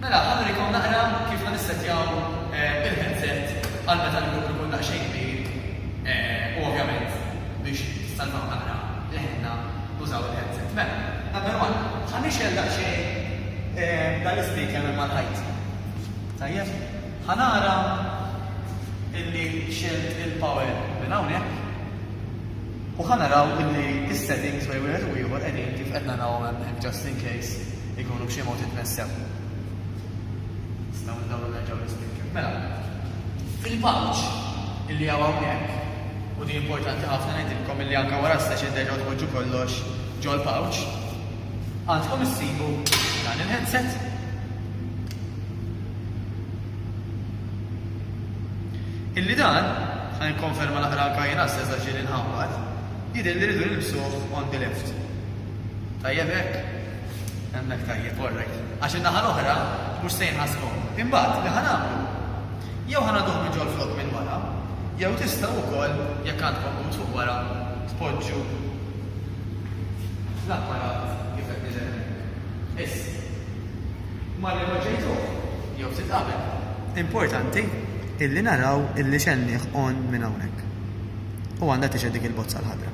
Mela, ħa nurikom naqra kif ħa nissettjaw il-headset għal meta l-grupp ikun daqsxejn kbir u ovvjament biex tissalvaw naqra leħinna tużaw il-headset. Mela, number one, ħa nixgħel daqsxejn dan l-ispeaker minn mal-ħajt. Tajjeb? Ħa nara illi xegħelt il-power minn hawnhekk u ħa naraw illi s-settings bejn wieħed u ieħor qegħdin kif qed narahom hemmhekk just in case. Ikunu b'xi mod itnesseww. Nistgħu ndawru nerġgħu l-ispikkew. Mela, fil-paġ illi hawn hawnhekk, u di importanti ħafna ngħidilkom illi anke wara s-session terġgħu tpoġġu kollox ġol-pouch, għandkom issibu dan il-headset. Illi dan, ħa nikkonferma naqra anke jien għas-session ġieli nħawwad, jidher li rridu nilbsuh on the left. Tajjeb hekk? Hemmhekk tajjeb, all right. Għax in-naħa l-oħra mhux se jinqas komdu. Imbagħad, li ħa nagħmlu? Jew ħa nagħduh minn ġol-flokk minn wara, jew tistgħu wkoll, jekk għandkom but fuq wara, tpoġġu l-apparat kif qed niżel hemmhekk. Issa. Imma li poġġejtuh, jew ftit qabel. Importanti illi naraw illi x'għennieh on minn hawnhekk. U għandha tixhed dik il-bozza l-ħadra.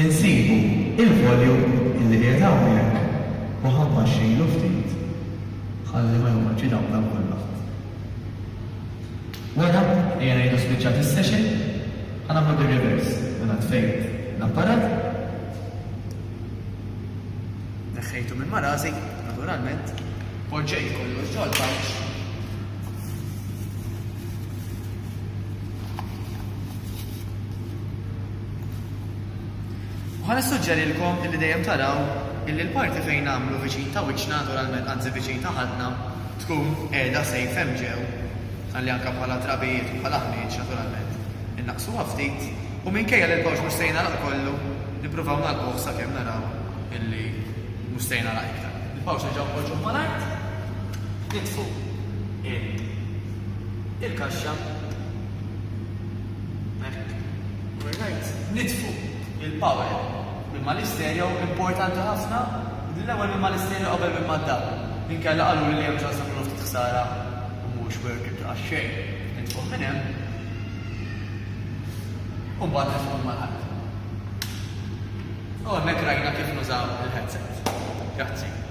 Insibu il-volume illi qiegħed hawnhekk u ħa mbaxxilu ftit ħalli ma joqgħodx idawdal kulħadd. Wara, ejja ngħidu spiċċat is-session, ħa nagħmlu bir-reverse, mela tfejt l-apparat, neħħejtu minn ma' rasi, naturalment, poġġejt kollox ġol pouch, U ħa nissuġġerilkom illi dejjem taraw illi l-parti fejn nagħmlu viċin ta' wiċċna, naturalment, anzi viċin ta' ħadna, tkun qiegħda safe hemm ġew, ħalli anke bħala trabijiet u bħala ħmieġ, naturalment, innaqqsuha ftit, u minkejja li l-kawċ mhux se jingħalaq kollu, nippruvaw nagħlquh sakemm naraw illi mhux se jingħalaq iktar. Il-kawċ nerġgħu npoġġuh mal-art, nitfu il-kaxxa, Alright, nitfu il-power minn ma' l-istereo, importanti ħafna li l-ewwel minn ma' l-istereo qabel minn ma' d-dar, inkella qaluli li hemm ċans li jkunu ftit ħsara u mhuwiex worth it għax-xejn nitfuh minn hemm u mbagħad nitfuh minn ma' l-art. U hemmhekk rajna kif nużaw il-headset. Grazzi.